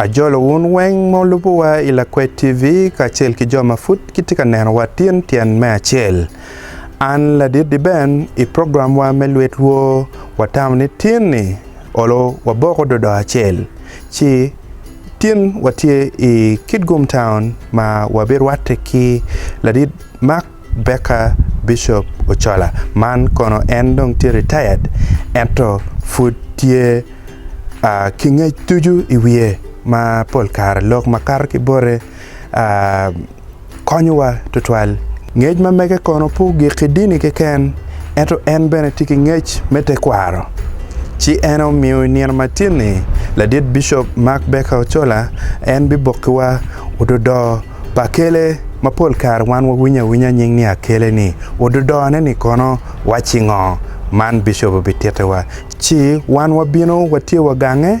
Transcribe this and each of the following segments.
Ajolo wun weng ma wulubowa i Lakwed TV kacel ki jo ma pud gitye ka nenowa tyen tyen me acel. An ladit Diben i programwa me Lwet Lwo watamo ni tyenni Olo waboko dodo acel ci tin watye i Kitgum Town ma wabirwatte ki ladit Mark Baker Bishop Ochola man kono en dong tye retired ento pud tye ki ngec ducu i wiye ma pol kare lok makato ki bote. konyowa tutwal. Ngec ma mege kono pe ogik ki dini keken, ento en bene tye ki ngec me tekwaro. Ci en omiyo i nino matin-ni, ladit Bicop Mark Becker Ochola en bibokkiwa ododoo pa Akele ma pol kare wan wawinyo awinya nying ni Akele-ni. Ododoone-ni kono wacci ngo? Man Bicop obitittiwa, ci wan wabino watye wagange.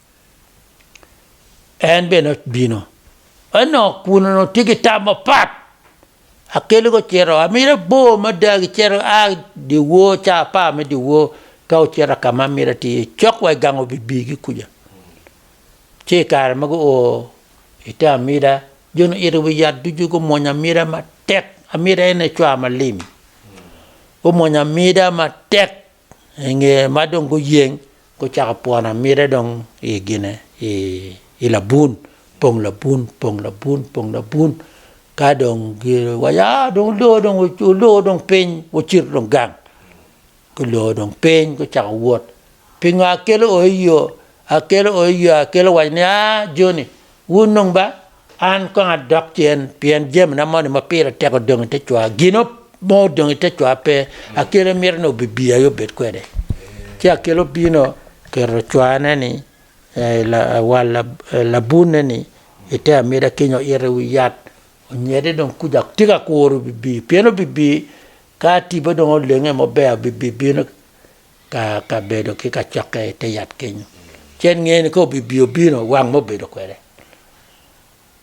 En bene obino. Eno kuno no tye ki tam mapat. Akele go cito, amira bor mada gi cito a di wor ca apar me di wor ka ocito ka ma amira ti iye cok wa igango bibi gi kuja. Ci kare ma gu o ite amira, jo ni ito wi yat ducu gu mwonyo amira matek. Amira ene cwa malim. Gu mwonyo amira matek. I nge ma dong guyeng, gucako pwono amida dong i gine i labun, pong labun, pong labun, pong labun. Ka dong giwaco, ah dong olor dong olor dong piny, wucit dong gang. Gulor dong piny gucako wot. Pingo akelo oo i yo? Akelo o iyo akelo waco ni, A, joni, wun nung ba, an kong adok cen, pien jamina moni ma pire tek odong i te cwa, gin mo odong i te cwa pe, akelo imito ni obibi aye obed kwede. Ci akelo obino keto cwane ni, wal labunne ni, i te amida keny oito i wi yat, onyede dong kuca, tika akuro obibi, pien obibi ka tipo dong olenge maber, obibi bino. Ka kabedo ki kacokke i te yat kenyo, ci en ngeyo ni ka obibi obino wang me obedo kwede.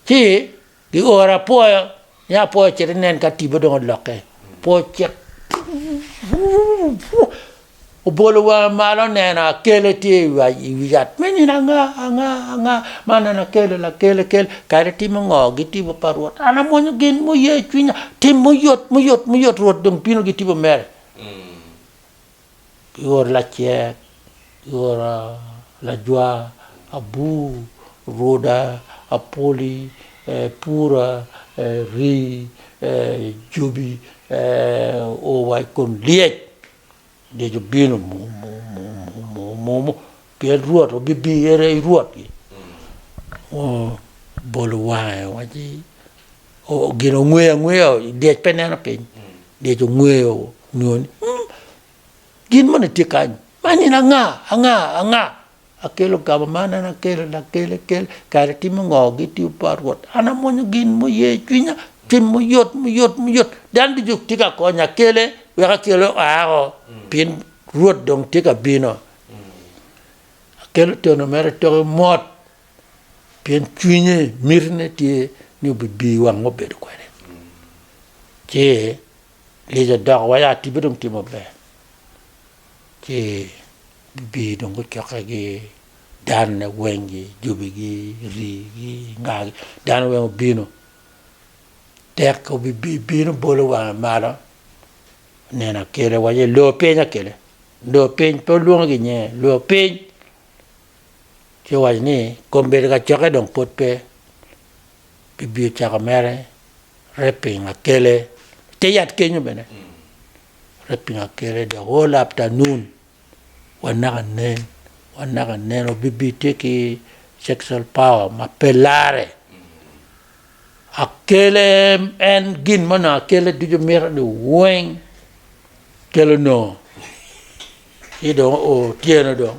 Ci gioro apwoyo ni apwoyo ocit inen ka tipo dong olokke. Apwoyo ocit obolo wange malo oneno akele tye i wi yat me nino anga anga anga ma aneno akele lakele kele kadi timo ngo gitibo pa Rwot an amwonyo gin muye cwinya tim muyot muyot muyot Rwot dong bino gitibo mere. kioro lacek, kioro lajwa, abur, ruda, apoli, pura, rii, jobi, oo wa i kom lyec, lyec obino pien Rwot obibino, en aye Rwotgi. Obolo wange waci. Gin ongweyo angweya lyec pe neno piny lyec ongweyo nyo ni um gin moni tye kany man in anga anga anga akelo gamo man en akele lakele kel kare timo ngo gitiyo pa rwot an amwonyo gin muye cwinya cwiny muyot muyot muyot dan ducu tye ka konya akele wek akele oako pien rwot dong tye ka bino akelo tono mere toke mot Pien cwinye, mitine tye ni obibii wang obedo kwede. Ci lyec odoko wa ya tibbe dong tye maber. Ci bibii dong gucokke gi danne weng gi jobi gi ri gi nga gi dano weng obino. Tek obibii bino bolo wange malo oneno akele waco ni lor piny akele. Lor piny pe olwongo gi nyinge lor piny. Ci owaco ni, Kom bedo kacokke dong pud pe, gibio cako mere raping akele i te yat kenyo bene, raping akele dok o laptanun wa naka nen, wa naka nen obibi tye ki sexual power ma pe lare. Akele en gin mo nongo akele ducu mito ni weng kelo nongo. Ci dong o tyeno dong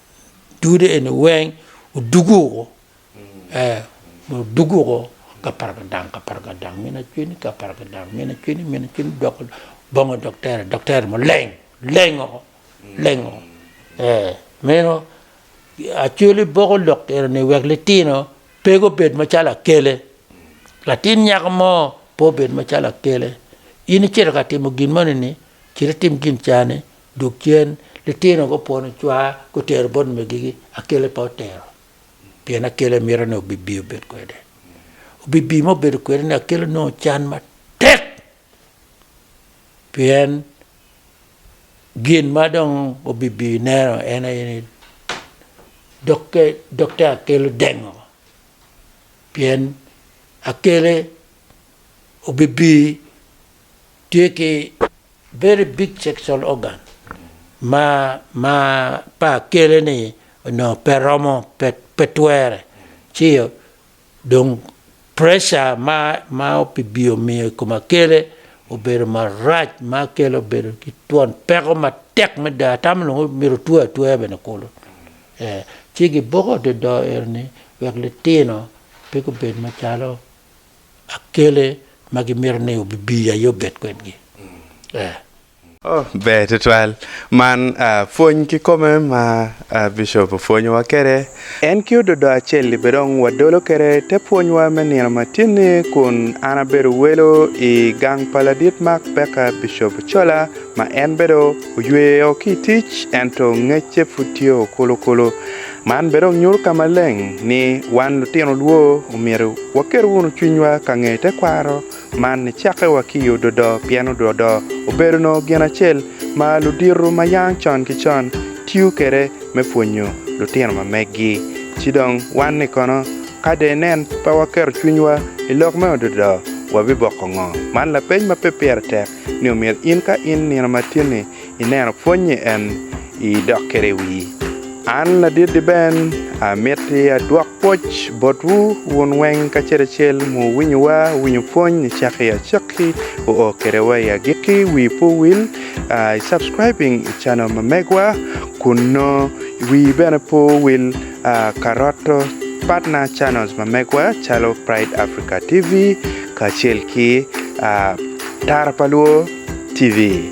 dude eni weng odugu woko ee odugu woko kapargadang kapargadang mine acweni kapargadang mine acweni mine acweni dok bongo doktere doktere mo leng leng woko leng woko ee meno acwele boko lok enoni wek litino pe gubed macalo akele latin nyako mo pe obed macalo akele in icito ka timo gin moni ni cit itim gin cani Dog cen, litino gupwono cwaa, gutero bot megigi, akele pe otero, pien akele mito ni obibi obed kwede. Obibi ma obedo kwede ni akele onongo can matek, pien gin ma dong obibi neno en aye ni dokke dokke akele odengo, pien akele obibi. tye ki very big sexual organ ma ma pa kele ni onongo pe romo pe pe twere ci dong pressure ma ma opibio miyo i kom akele obedo marac ma akele obedo ki twon peko matek mada atamo nongo myero otwe atweya bene kulu ee ci giboko dodoo eni wek litino pe gubed macalo akele ma gimito ni obibi aye obed kwedgi. Ee. Oh, ber tutwal. Man pwony kikome ma Bishop opwonyowa kwede. En ki ododo acel-li bene dong wadolo kwede te pwonywa me nino matin-ni kun an abedo welo i gang pa Ladit Mark Becker, Bishop Ochola, ma en bene oyweyo ki i tic ento ngecce pud tye okulu kulu. Man bene onyuto ka maleng ni wan lutino lwo omyero waket wunu cwinywa ka ngeyo tekwaro man nicakkewa ki i ododo pien ododo obedo nongo gin acel ma ludito ma yang con ki con tiyo kwede me pwonyo lutino ma meggi. Ci dong wan-ni kono ka dong inen pe waketo cwinywa i lok me ododo, wabiboko ngo? Man lapeny ma pe pire tek ni omyero in ka in nino matini ineno pwony-nyi en, idok kwede i wii. An ladit-ti ben, amiti adwok pwoc botwu wun weng kacel acel muwinyowa, wuwinyo pwony i cakki acakki, wuo kwede wa i agikki, wii pe owil i subscribing i channel ma megwa kunnu, wii bene pe owil ka roto partner channels ma megwa calo Pride Africa TV kacel ki Tara pa Lwor TV.